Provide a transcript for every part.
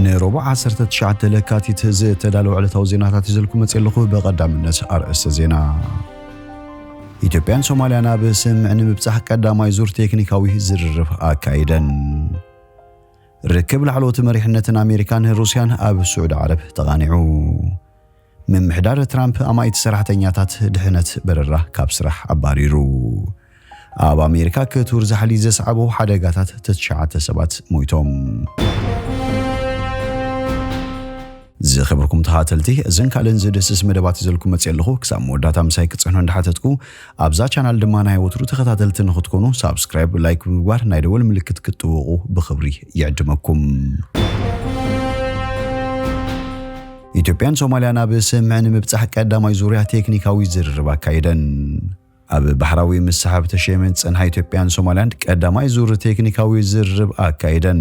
ንረቡዕ ዓሰርተ ትሽዓተ ለካቲት ዝተዳለወ ዕለታዊ ዜናታት ሒዘልኩም መጽየ ኣለኹ። ብቐዳምነት ኣርእስተ ዜና። ኢትዮጵያን ሶማልያን ኣብ ስምምዕ ንምብጻሕ ቀዳማይ ዙር ቴክኒካዊ ዝርርብ ኣካይደን። ርክብ ላዕለዎት መሪሕነትን ኣሜሪካን ሩስያን ኣብ ስዑዲ ዓረብ ተቓኒዑ። ምምሕዳር ትራምፕ ኣማኢት ሰራሕተኛታት ድሕነት በረራ ካብ ስራሕ ኣባሪሩ። ኣብ ኣሜሪካ ክቱር ዛሕሊ ዘስዓቦ ሓደጋታት ትሽዓተ ሰባት ሞይቶም። ዝኸበርኩም ተኸታተልቲ እዝን ካልእን ዝድስስ መደባት ይዘልኩም መፅእ ኣለኹ ክሳብ መወዳእታ ምሳይ ክፅዕኖ እንዳሓተትኩ ኣብዛ ቻናል ድማ ናይ ወትሩ ተኸታተልቲ ንኽትኮኑ ሳብስክራይብ ላይክ ብምግባር ናይ ደወል ምልክት ክትጥውቑ ብኽብሪ ይዕድመኩም ኢትዮጵያን ሶማልያን ኣብ ስምምዕ ንምብጻሕ ቀዳማይ ዙርያ ቴክኒካዊ ዝርርብ ኣካይደን። ኣብ ባሕራዊ ምስሕብ ተሸይመን ዝጸንሓ ኢትዮጵያን ሶማልያን ቀዳማይ ዙር ቴክኒካዊ ዝርርብ ኣካይደን።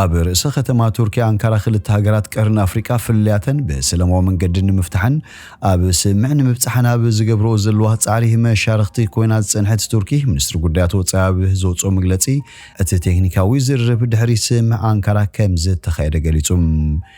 ኣብ ርእሰ ከተማ ቱርኪ ኣንካራ ክልተ ሃገራት ቀርኒ ኣፍሪቃ ፍልልያተን ብሰለማዊ መንገዲ ንምፍታሕን ኣብ ስምምዕ ንምብጻሕን ኣብ ዝገብርኦ ዘለዋ ጻዕሪ መሻርኽቲ ኮይና ዝጸንሐት ቱርኪ ሚኒስትሪ ጉዳያት ወጻኢ ኣብ ዘውጽኦ መግለጺ እቲ ቴክኒካዊ ዝርርብ ድሕሪ ስምምዕ ኣንካራ ከምዝተኻየደ ገሊጹ።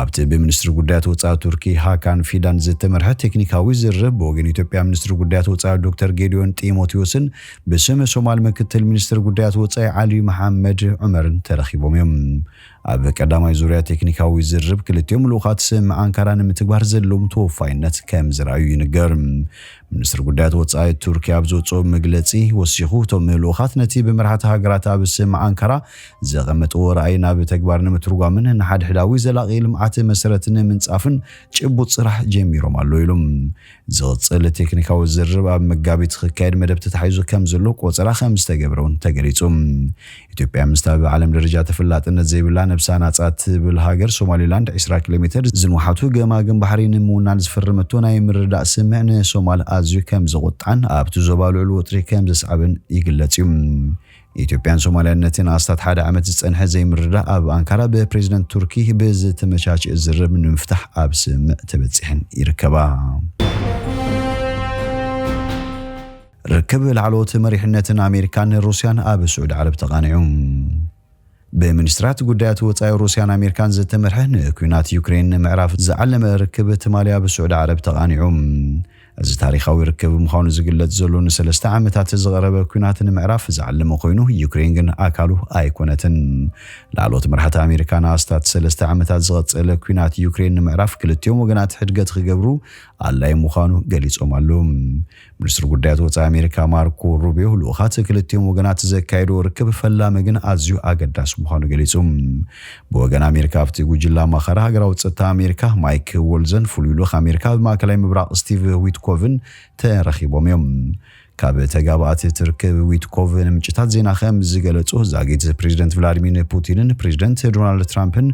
ኣብቲ ብሚኒስትሪ ጉዳያት ወጻኢ ቱርኪ ሃካን ፊዳን ዝተመርሐ ቴክኒካዊ ዝርርብ ብወገን ኢትዮጵያ ሚኒስትሪ ጉዳያት ወጻኢ ዶክተር ጌዲዮን ጢሞቴዎስን ብስም ሶማል ምክትል ሚኒስትር ጉዳያት ወጻኢ ዓሊ መሓመድ ዑመርን ተረኺቦም እዮም። ኣብ ቀዳማይ ዙርያ ቴክኒካዊ ዝርርብ ክልቲኦም ልኡኻት ስምምዕ ኣንካራ ንምትግባር ዘለዎም ተወፋይነት ከምዝርኣዩ ይንገር። ሚኒስትሪ ጉዳያት ወጻኢ ቱርኪ ኣብ ዘውጽኦ መግለጺ ወሲኹ፣ እቶም ልኡኻት ነቲ ብመራሕቲ ሃገራት ኣብ ስም ኣንካራ ዘቐመጥዎ ራእይ ናብ ተግባር ንምትርጓምን ንሓድሕዳዊ ዘላቒ ልምዓት መሰረት ንምንጻፍን ጭቡጥ ስራሕ ጀሚሮም ኣለዉ ኢሉ። ዝቕጽል ቴክኒካዊ ዝርርብ ኣብ መጋቢት ክካየድ መደብ ተታሒዙ ከምዘሎ ቆጸራ ከምዝተገብረ'ውን ተገሊጹ። ኢትዮጵያ ምስታ ብዓለም ደረጃ ተፈላጥነት ዘይብላ ነብሳ ናጻ ትብል ሃገር ሶማሊላንድ ዕስራ ኪሎሜተር ዝንውሓቱ ገማግም ባሕሪ ንምውናን ዝፈረመቶ ናይ ምርድዳእ ስምምዕ ንሶማል ኣዝዩ ከምዘቑጥዓን ኣብቲ ዞባ ልዑል ወጥሪ ከምዘስዓበን ይግለጽ እዩ። ኢትዮጵያን ሶማልያን ነቲ ንኣስታት ሓደ ዓመት ዝጸንሐ ዘይምርድዳእ ኣብ ኣንካራ ብፕሬዝደንት ቱርኪ ብዝተመቻቸእ ዝርርብ ንምፍታሕ ኣብ ስምምዕ ተበጺሐን ይርከባ። ርክብ ላዕለዎት መሪሕነትን ኣሜሪካን ሩስያን ኣብ ስዑዲ ዓረብ ተቓኒዑ። ብሚኒስትራት ጉዳያት ወጻኢ ሩስያን ኣሜሪካን ዝተመርሐ ንኲናት ዩክሬን ንምዕራፍ ዝዓለመ ርክብ ትማሊ ኣብ ስዑዲ ዓረብ ተቓኒዑ። እዚ ታሪኻዊ ርክብ ምዃኑ ዝግለጽ ዘሎ ንሰለስተ ዓመታት ዝቐረበ ኲናት ንምዕራፍ ዝዓለመ ኮይኑ ዩክሬን ግን ኣካሉ ኣይኮነትን። ላዕለዎት መራሕቲ ኣሜሪካ ንኣስታት ሰለስተ ዓመታት ዝቐጸለ ኲናት ዩክሬን ንምዕራፍ ክልቲኦም ወገናት ሕድገት ክገብሩ ኣድላዪ ምዃኑ ገሊጾም ኣለዉ። ሚኒስትር ጉዳያት ወፃኢ ኣሜሪካ ማርኮ ሩቢዮ ልኡኻት ክልቲኦም ወገናት ዘካየድዎ ርክብ ፈላሚ ግን ኣዝዩ ኣገዳሲ ምዃኑ ገሊፁ። ብወገን ኣሜሪካ ኣብቲ ጉጅለ ኣማኻሪ ሃገራዊ ፀጥታ ኣሜሪካ ማይክ ወልዘን ፍሉይ ልኡኽ ኣሜሪካ ኣብ ማእከላይ ምብራቕ ስቲቭ ዊትኮቭን ተረኺቦም እዮም። ካብ ተጋባእቲ እቲ ርክብ ዊትኮቭ ንምንጭታት ዜና ከም ዝገለፁ ዛጊት ፕሬዚደንት ቭላድሚር ፑቲንን ፕሬዚደንት ዶናልድ ትራምፕን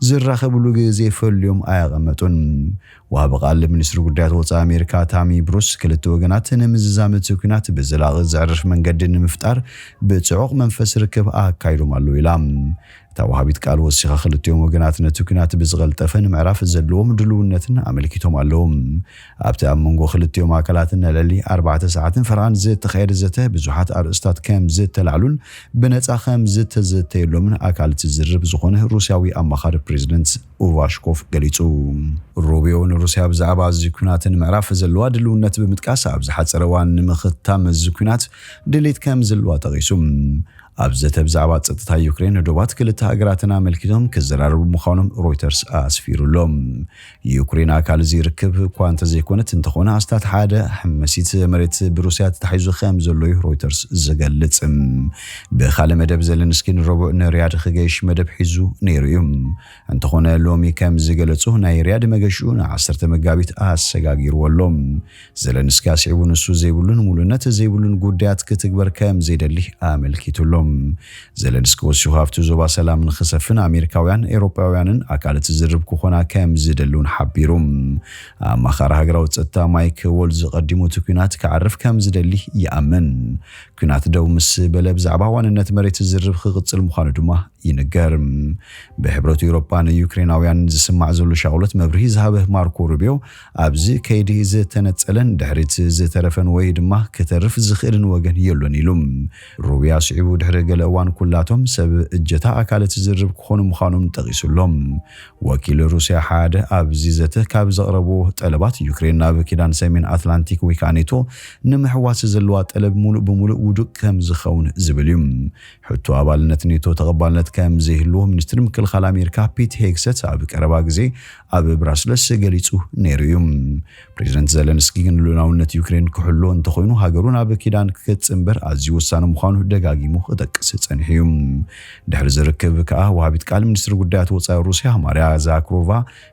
ዝራኸብሉ ግዜ ፈልዮም ኣየቐመጡን። ወሃቢ ቃል ሚኒስትሪ ጉዳያት ወፃኢ ኣሜሪካ ታሚ ብሩስ ክልተ ወገናት ንምዝዛም እቲ ኲናት ብዘላቒ ዘዕርፍ መንገዲ ንምፍጣር ብፅዑቕ መንፈስ ርክብ ኣካይዶም ኣለዉ ኢላ። እታ ወሃቢት ቃል ወሲኻ ክልቲኦም ወገናት ነቲ ኲናት ብዝቐልጠፈ ንምዕራፍ ዘለዎም ድልውነትን ኣመልኪቶም ኣለዉ። ኣብቲ ኣብ መንጎ ክልቲኦም ኣካላት ንልዕሊ ኣርባዕተ ሰዓትን ፈረቓን ዝተኻየደ ዘተ ብዙሓት ኣርእስታት ከምዝተላዕሉን ብነፃ ከምዝተዘተየሎምን ኣካል እቲ ዝርርብ ዝኾነ ሩስያዊ ኣማኻሪ ፕሬዝደንት ኡቫሽኮፍ ገሊጹ። ሩቢዮ ንሩስያ ብዛዕባ እዚ ኲናት ንምዕራፍ ዘለዋ ድልውነት ብምጥቃስ ኣብ ዝሓጸረ እዋን ንምኽታም እዚ ኲናት ድሌት ከም ዘለዋ ጠቒሱ። ኣብ ዘተ ብዛዕባ ጸጥታ ዩክሬን ዶባት ክልተ ሃገራትን ኣመልኪቶም ክዘራረቡ ምዃኖም ሮይተርስ ኣስፊሩ ኣሎ። ዩክሬን ኣካል እዚ ርክብ እኳ እንተዘይኮነት እንተኾነ ኣስታት ሓደ ሓመሲት መሬት ብሩስያ ተታሒዙ ከም ዘሎ'ዩ ሮይተርስ ዝገልጽ። ብኻልእ መደብ ዘለንስኪ ንረቡዕ ንሪያድ ኽገይሽ መደብ ሒዙ ነይሩ እዩ። እንተኾነ ሎሚ ከም ዝገለጾ ናይ ሪያድ መገሽኡ ን ዓሰርተ መጋቢት ኣሰጋጊርዎ ኣሎ። ዘለንስኪ ኣስዒቡ ንሱ ዘይብሉን ምሉእነት ዘይብሉን ጉዳያት ክትግበር ከም ዘይደሊ ኣመልኪቱ ኣሎ። ዘለንስኪ ወሲኹ ኣብቲ ዞባ ሰላም ንኽሰፍን ኣሜሪካውያን፣ ኤውሮጳውያንን ኣካል'ቲ ዝርርብ ክኾና ከም ዝደሊ እውን ሓቢሩ። ኣማኻሪ ሃገራዊ ጸጥታ ማይክ ዎልዝ ቐዲሙ እቲ ኲናት ክዓርፍ ከም ዝደሊ ይኣምን። ኲናት ደው ምስ በለ ብዛዕባ ዋንነት መሬት ዝርብ ክቕጽል ምዃኑ ድማ ይንገር። ብሕብረት ኤውሮጳ ንዩክሬናውያን ዝስማዕ ዘሎ ሻቕሎት መብርሂ ዝሃበ ማርኮ ሩቢዮ ኣብዚ ከይዲ ዝተነጸለን ድሕሪት ዝተረፈን ወይ ድማ ክተርፍ ዝኽእልን ወገን የሎን ኢሉ። ሩቢዮ ኣስዒቡ ድሕሪ ገለ እዋን ኩላቶም ሰብ እጀታ ኣካል እቲ ዝርብ ክኾኑ ምዃኖም ጠቒሱ ኣሎ። ወኪል ሩስያ ሓደ ኣብዚ ዘተ ካብ ዘቕረቡ ጠለባት ዩክሬን ናብ ኪዳን ሰሜን ኣትላንቲክ ወይከኣ ኔቶ ንምሕዋስ ዘለዋ ጠለብ ሙሉእ ብሙሉእ ውዱቅ ከምዝኸውን ዝብል እዩ። ሕቶ ኣባልነት ኔቶ ተቐባልነት ከምዘይህልዎ ሚኒስትር ምክልኻል ኣሜሪካ ፒት ሄግሰት ኣብ ቀረባ ግዜ ኣብ ብራስለስ ገሊጹ ነይሩ እዩ። ፕሬዚደንት ዘለንስኪ ግን ልኡላውነት ዩክሬን ክሕሎ እንተኾይኑ ሃገሩ ናብ ኪዳን ክገጽእ እምበር ኣዝዩ ወሳኒ ምዃኑ ደጋጊሙ ክጠቅስ ጸኒሑ እዩ። ድሕሪ እዚ ርክብ ከኣ ወሃቢት ቃል ሚኒስትሪ ጉዳያት ወጻኢ ሩስያ ማርያ ዛክሮቫ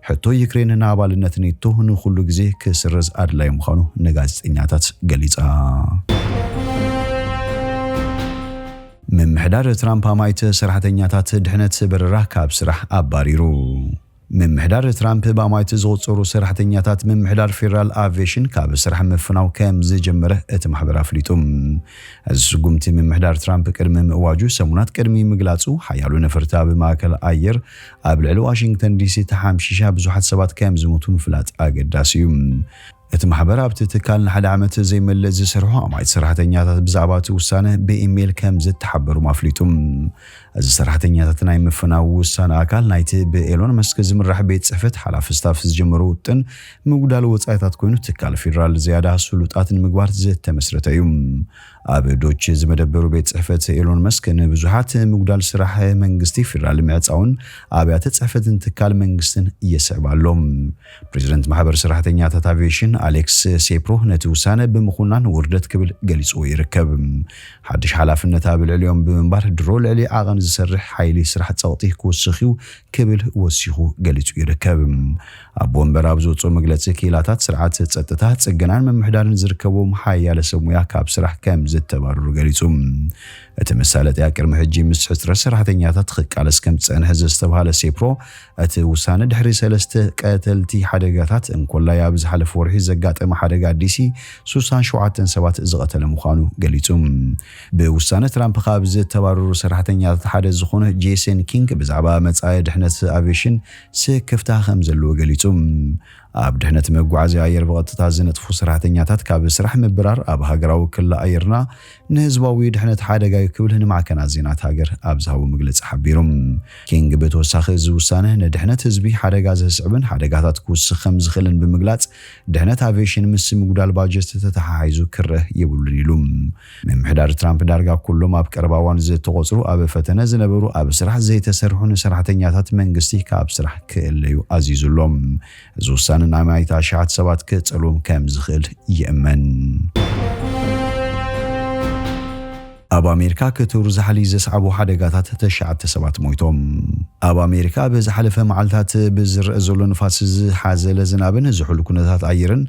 ሕቶ ዩክሬን ንኣባልነት ኔቶ ንኹሉ ግዜ ክስረዝ ኣድላዪ ምዃኑ ንጋዜጠኛታት ገሊጻ። ምምሕዳር ትራምፕ ኣማኢት ሰራሕተኛታት ድሕነት በረራ ካብ ስራሕ ኣባሪሩ። ምምሕዳር ትራምፕ ብኣማኢት ዝቑጸሩ ሰራሕተኛታት ምምሕዳር ፌደራል ኣቭየሽን ካብ ስራሕ ምፍናው ከም ዝጀመረ እቲ ማሕበር ኣፍሊጡ። እዚ ስጉምቲ ምምሕዳር ትራምፕ ቅድሚ ምእዋጁ ሰሙናት ቅድሚ ምግላጹ፣ ሓያሎ ነፈርቲ ኣብ ማእከል ኣየር ኣብ ልዕሊ ዋሽንግተን ዲሲ ተሓምሺሻ ብዙሓት ሰባት ከም ዝሞቱ ምፍላጥ ኣገዳሲ እዩ። እቲ ማሕበር ኣብቲ ትካል ንሓደ ዓመት ዘይመልእ ዝሰርሑ ኣማኢት ሰራሕተኛታት ብዛዕባ እቲ ውሳነ ብኢሜይል ከም ዝተሓበሩም ኣፍሊጡ። እዚ ሰራሕተኛታት ናይ ምፍናው ውሳነ ኣካል ናይቲ ብኤሎን መስክ ዝምራሕ ቤት ጽሕፈት ሓላፊ ስታፍ ዝጀመሮ ውጥን ምጉዳል ወጻኢታት ኮይኑ ትካል ፌደራል ዝያዳ ስሉጣት ንምግባር ዝተመስረተ እዩ። ኣብ ዶች ዝመደበሩ ቤት ጽሕፈት ኤሎን መስክ ንብዙሓት ምጉዳል ስራሕ መንግስቲ ፌደራል ምዕጻውን ኣብያተ ጽሕፈትን ትካል መንግስትን የስዕብ ኣሎ። ፕሬዚደንት ማሕበር ሰራሕተኛታት ኣቪዬሽን ኣሌክስ ሴፕሮ ነቲ ውሳነ ብምኹናን ውርደት ክብል ገሊፅዎ ይርከብ። ሓድሽ ሓላፍነት ኣብ ልዕሊኦም ብምንባር ድሮ ልዕሊ ዓቐን ዝሰርሕ ሓይሊ ስራሕ ፀቕጢ ክውስኽ እዩ ክብል ወሲኹ ገሊፁ ይርከብ። ኣቦ ወንበር ኣብ ዘውፅኦ መግለፂ ክኢላታት ስርዓት ፀጥታ፣ ፅገናን ምምሕዳርን ዝርከብዎም ሓያለ ሰብ ሙያ ካብ ስራሕ ከምዝተባረሩ ገሊፁ። እቲ መሳለጥያ ቅድሚ ሕጂ ምስ ሕፅረት ሰራሕተኛታት ኽቃለስ ከምዝፀንሐ ዘስተብሃለ ሴፕሮ እቲ ውሳነ ድሕሪ ሰለስተ ቀተልቲ ሓደጋታት፣ እንኮላይ ኣብ ዝሓለፈ ወርሒ ዘጋጠመ ሓደጋ ዲሲ ስሳን ሸውዓተን ሰባት ዝቐተለ ምዃኑ ገሊጹ። ብውሳነ ትራምፕ ካብ ዝተባረሩ ሰራሕተኛታት ሓደ ዝኾነ ጄሰን ኪንግ ብዛዕባ መጻኢ ድሕነት ኣቪየሽን ስክፍታ ከም ዘለዎ ገሊጹ። ኣብ ድሕነት መጓዓዝያ ኣየር ብቐጥታ ዝነጥፉ ሰራሕተኛታት ካብ ስራሕ ምብራር ኣብ ሃገራዊ ክሊ ኣየርና ንህዝባዊ ድሕነት ሓደጋ'ዩ ክብል ንማዕከናት ዜናት ሃገር ኣብ ዝሃቦ መግለጺ ሓቢሩ። ኪንግ ብተወሳኺ እዚ ውሳነ ንድሕነት ህዝቢ ሓደጋ ዘስዕብን ሓደጋታት ክውስኽ ከም ዝኽእልን ብምግላጽ ድሕነት ኣቬሽን ምስ ምጉዳል ባጀት ተተሓሒዙ ክረእ የብሉን ኢሉ። ምምሕዳር ትራምፕ ዳርጋ ኩሎም ኣብ ቀረባ እዋን ዝተቖጽሩ ኣብ ፈተነ ዝነበሩ ኣብ ስራሕ ዘይተሰርሑን ሰራሕተኛታት መንግስቲ ካብ ስራሕ ክእለዩ ኣዚዙ ኣሎ። እዚ ውሳነ ናይ ማይት ኣሽሓት ሰባት ክጸልዎም ከም ዝኽእል ይእመን። ኣብ ኣሜሪካ ክትሩ ዛሕሊ ዘስዓቦ ሓደጋታት ተሽዓተ ሰባት ሞይቶም። ኣብ ኣሜሪካ ኣብ ዝሓለፈ መዓልታት ብዝረአ ዘሎ ንፋስ ዝሓዘለ ዝናብን ዝሑል ኩነታት ኣየርን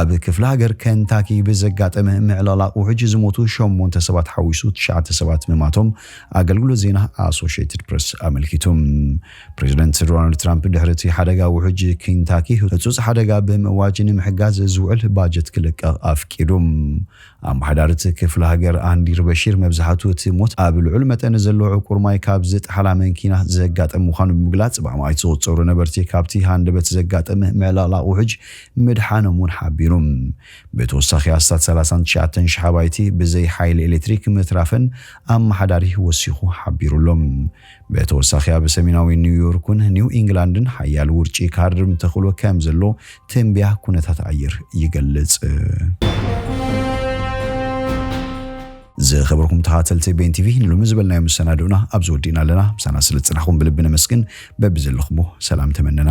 ኣብ ክፍለ ሃገር ከንታኪ ብዘጋጠመ ምዕልቕላቕ ውሕጅ ዝሞቱ ሸሞንተ ሰባት ሓዊሱ ትሽዓተ ሰባት ምማቶም ኣገልግሎት ዜና ኣሶሽትድ ፕረስ ኣመልኪቱ። ፕሬዝደንት ዶናልድ ትራምፕ ድሕሪ እቲ ሓደጋ ውሕጅ ኪንታኪ ህፁፅ ሓደጋ ብምእዋጅ ንምሕጋዝ ዝውዕል ባጀት ክልቀቕ ኣፍቂዱ። ኣመሓዳሪት ክፍለ ሃገር ኣንዲር በሺር መብዛሕቱ እቲ ሞት ኣብ ልዑል መጠን ዘለዎ ዕቁር ማይ ካብ ዝጠሓላ መንኪና ዘጋጠም ምዃኑ ብምግላፅ ብኣማኢት ዝቑፀሩ ነበርቲ ካብቲ ሃንደበት ዘጋጠመ ምዕልቕላቕ ውሕጅ ምድሓኖም እውን ሓቢሩ። ብተወሳኺ ኣስታት ሰላሳን ትሽዓተን ሽሕ ኣባይቲ ብዘይ ሓይሊ ኤሌክትሪክ ምትራፈን ኣመሓዳሪ ወሲኹ ሓቢሩ ኣሎ። ብተወሳኺ ኣብ ሰሜናዊ ኒው ዮርክን ኒው ኢንግላንድን ሓያል ውርጪ ካርም ተኽእሎ ከም ዘሎ ትንቢያ ኩነታት ኣየር ይገልጽ። ዝኸበርኩም ተኻተልቲ ቤን ቲቪ ንሎሚ ዝበልናዮ መሰናድኡና ኣብዚ ወዲእና ኣለና። ምሳና ስለ ዝጸናሕኩም ብልቢ ነመስግን። በብዘለኹሞ ሰላም ተመነና።